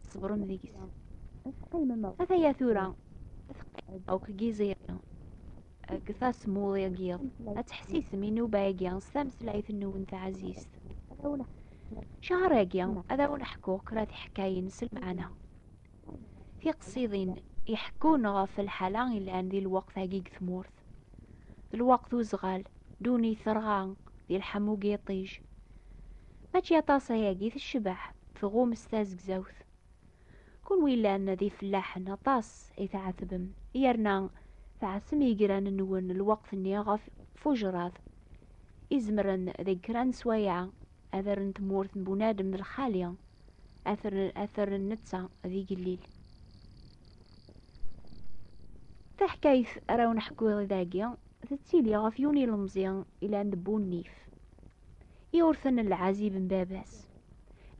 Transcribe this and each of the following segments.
tṣebrem deg-s. Ata-ya tura, akk deg Yiẓiri, deg tasmuḍ-agi, ad teḥsisem inuba-agi s tameslayt-nwen taɛzizt. Cahar-agi, ad awen-ḥkuɣ kra tiḥkayin s lmeɛna. Tiqsiḍin iḥekkun ɣef lḥala yellan di lweqt-agi deg tmurt. d lweqt uzɣal duni terɣa di lḥamu giṭij mačči aṭas ayagi tecbeḥ tɣum s tazegzawt kunwi llan d ifellaḥen aṭas i tɛetbem yerna tɛessem igran-nwen lweqt-nni ɣef fujrat izemren deg kra n swaya ad rren tmurt n bunadem d lxali ad terren netta d igellil taḥkayt ara wen-ḥkuɣ dagi tettili ɣef yiwen ilemẓi ilan d bunnif iwrten n lɛazib n baba-s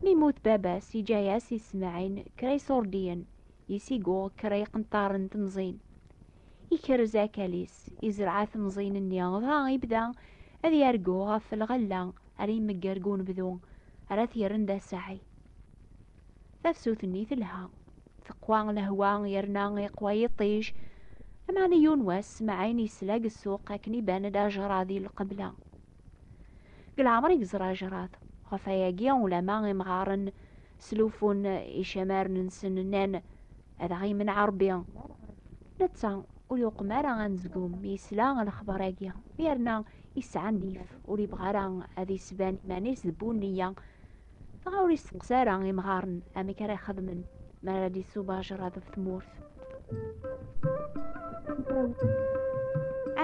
mi yemmut baba-s yeǧǧa-as i Smaɛin kra iṣurdiyen Isig uɣ kra iqenṭaren n temẓin. Ikerrez akal-is, izreɛ temẓin-nni, dɣa ibda ad yargu ɣef lɣella ara imegger deg unebdu, ara t-yerren d asaɛi. Tafsut-nni telha. Teqwa lehwa yerna iqwa yiṭij. Lameɛna yiwen wass, Maɛin yesla deg ssuq akken iban-d ajṛad i lqebla. Deg leɛmer i yeẓra ajrat. Ɣef wayagi, ulama imɣaren sluffun icamaren-nsen, nnan, Ad aɣ-yemneɛ Rebbi! Netta ur yuqem ara anezgum mi yesla lexbar-agi, yerna yesɛa nnif, ur yebɣi ara ad yesban iman-is d bu nneyya. dɣa ur yesseqs ara imɣaren amek ara ixedmen mi ara d-isub ajerrad ɣef tmurt.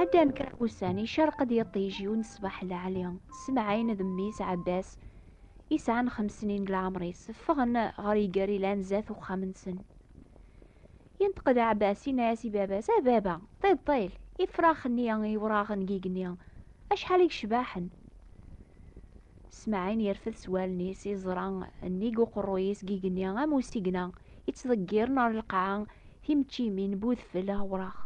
Ɛeddan kra n wussan, icerq-d yiṭij yiwen ṣṣbeḥ lɛali, Semɛin d mmi-s Ɛebbas, isɛan xemsnin n leɛmer-is, ffɣen ɣer iger ilan zdat uxxam-nsen. Yenṭeq-d Ɛebbas, yenna-as i baba-s, A baba, ṭiṭṭil, ifrax-nni iwraɣen n yigenni, acḥal i yecbaḥen! Smaɛin yerfed s wallen-is iẓra nnig uqerruy-is n yigenni am usigna, yettḍeggiren ɣer lqaɛa timeččimin n udfel awraɣ.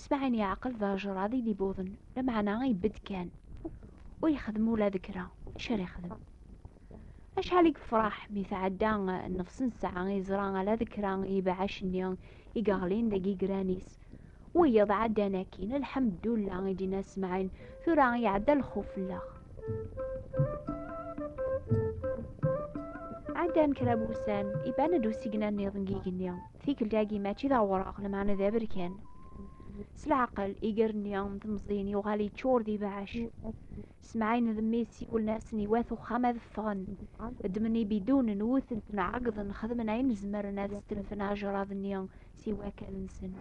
Smaɛin yeɛqel d ajrad i d-ibuḍen, lameɛna ibedd kan, ur yexdim ula d kra. Acu ara yexdem? Acḥal i yefraḥ mi tɛedda nnefs n ssaɛa iẓra ala d kra n yibeɛɛac-nni i yeɣlin deg yigran-is. Wiyiḍ ɛeddan akkin, lḥemddulla, i d-yenna Smaɛil, tura iɛedda lxuf fell-aɣ. Ɛeddan kra n wussan, iban-d usigna-nniḍen n yigenni. Tikkelt-agi mačči d awraɣ, lameɛna d aberkan. S leɛqel, iger-nni n temẓin yuɣal yeččur d ibeɛɛac. Semɛin d mmi siwlen-asen i wat uxxam ad ffɣen. Ddmen ibidunen, wwten-ten, ɛeggḍen, xedmen ayen zemren ad stelfen ajerrad-nni si wakal-nsen.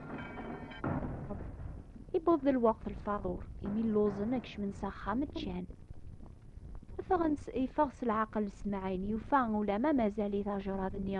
Iwweḍ-d lweqt lfaḍur, imi lluẓen ad kecmen s axxam, ččan. Iffeɣ s leɛqel Semɛin, yufa ulamma mazal-it ajerrad-nni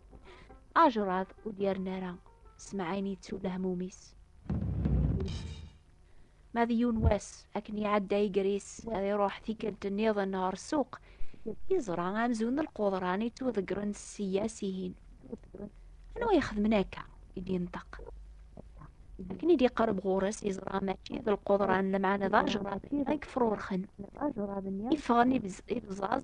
Ajrad ur d-yerni ara, semɛayen yettu lehmum-is. Ma d yiwen wass, akken iɛedda igris, ad iruḥ tikkelt nniḍen ɣer ssuq, yeẓra amzun n lquḍran yettwaḍeggren sseyya sihin. Anwa ixedmen akka? i d-yenṭeq. Akken i d-iqerreb ɣur-s, yeẓra mačči d lquḍran, lemɛana d ajrad ay yefrurxen. Iffɣen ibẓaẓ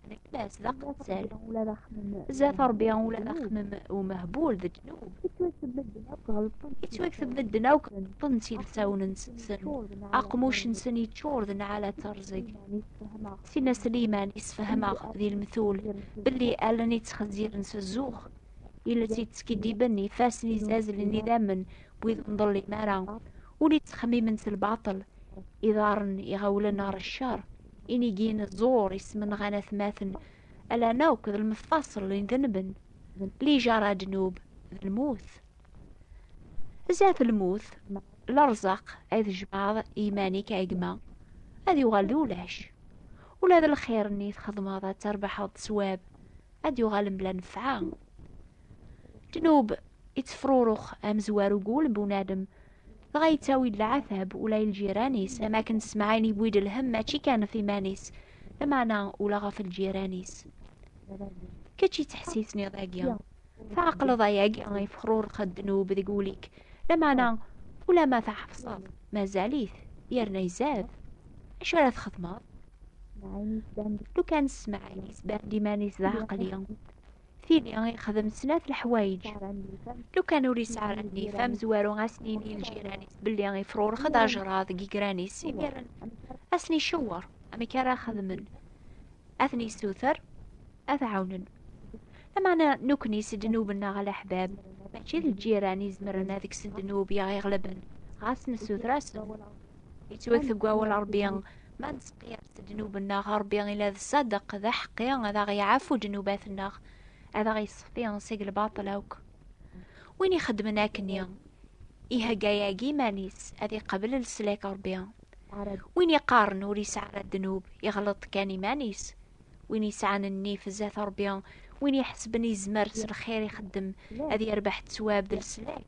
Neklas d aqettal. Ula d axemmem. Zdat Rebbi ula d axemmem umehbul d ddnub. Ittwakteb medden akk ɣelṭen. Ittwakteb medden akk ɣelṭen s ilsawen-nsen. Aqmuc-nsen yeččur d nɛala d terẓeg. Tinna Sliman yessefhem-aɣ di lemtul belli allen yettxezziren s zzux. Iles yettskiddiben, ifassen yezzazlen idammen wid ur nḍellim ara. Ul yettxemmimen s lbaṭel, iḍarren iɣawlen ɣer ccer. Inigi n ẓẓur ismenɣan atmaten, alan akk d lmeffaṣel n denben, lijaṛa ddnub d lmut. Zdat lmut, lerẓaq ay tjemɛeḍ i yiman-ik a gma, ad yuɣal d ulac. Ula d lxir-nni txedmeḍ ad terbeḥeḍ d sswab, ad d-yuɣal mebla nnefɛa. Ddnub ittefrurux amezwaru n wul n bunadem, dɣa yettawi-d leɛtab ula i lǧiran-is am akken Smaɛil yewwi-d lhemm mačči kan ɣef iman-is lameɛna ula ɣef lǧiran-is kečč yettḥessisniḍ agi tɛeqleḍ ayagi ifexrureq ddnub deg wul-ik lameɛna ulama tɛefseḍ mazal-it yerna izad acu ara txedmeḍ lukan Smaɛil yesban-d iman-is d aɛeqli tili yexdem snat leḥwayeǧ lukan ur yesɛi ara nnif amezwaru ad as-nini ljiran-is belli ifrurex-d ajṛad deg igran-is imiren ad sen-icewweṛ amek ara xedmen ad ten-yessuter ad ɛawnen lameɛna nekkni s ddnub-nneɣ a leḥbab mačči d ljiran i izemren ad ksen ddnub i aɣ-iɣelben ɣas nessuter-asen Yettwakteb wawal Ṛebbi, ma nettqiyad-d ddnub-nneɣ, Ṛebbi ila d ṣṣadeq, d aḥeqqi, ad aɣ-iɛfu ddnubat-nneɣ, ad aɣ-iṣeffi seg lbaṭel akk. Win ixeddmen akkenni, ihegga yagi iman-is ad iqabel leslak Ṛebbi. Win iqqaren ur yesɛi ara ddnub, iɣleḍ kan iman-is. Win yesɛan nnif zdat Ṛebbi, win iḥesben yezmer s lxir ixeddem ad yerbeḥ ttwab d leslak,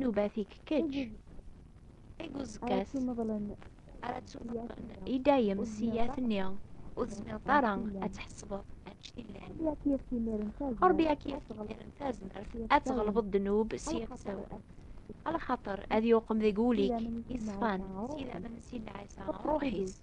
Nubat-ik kečč. Deg uzekka-s ara tt-umeḍlen i dayem ssiyat-nni ur tezmireḍ ara ad tḥesbeḍ anect yellan. Ṛebbi ad k-yefk imiren tazmert ad tɣelbeḍ ddnub s yixsawen. Lxaṭer ad yuqem deg wul-ik iṣfan s yidammen n Sidna Ɛisa, Ṛṛuḥ-is.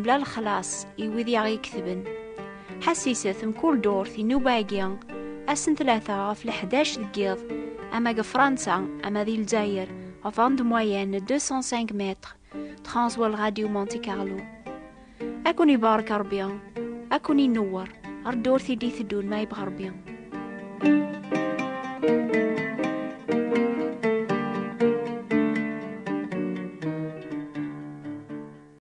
Mla lexlaṣ i wid i aɣ-iketben. Ḥassiset mkul durt inuba-agi ass n tlata ɣef leḥdac deg yiḍ, ama deg Fransa ama di Lezzayer, ɣef onde moyenne 205 mètres, Transworld Radio Monte Carlo. Ad ken-ibarek Rebbi, ad ken-inewwer ar ddurt i d-iteddun ma yebɣa Rebbi.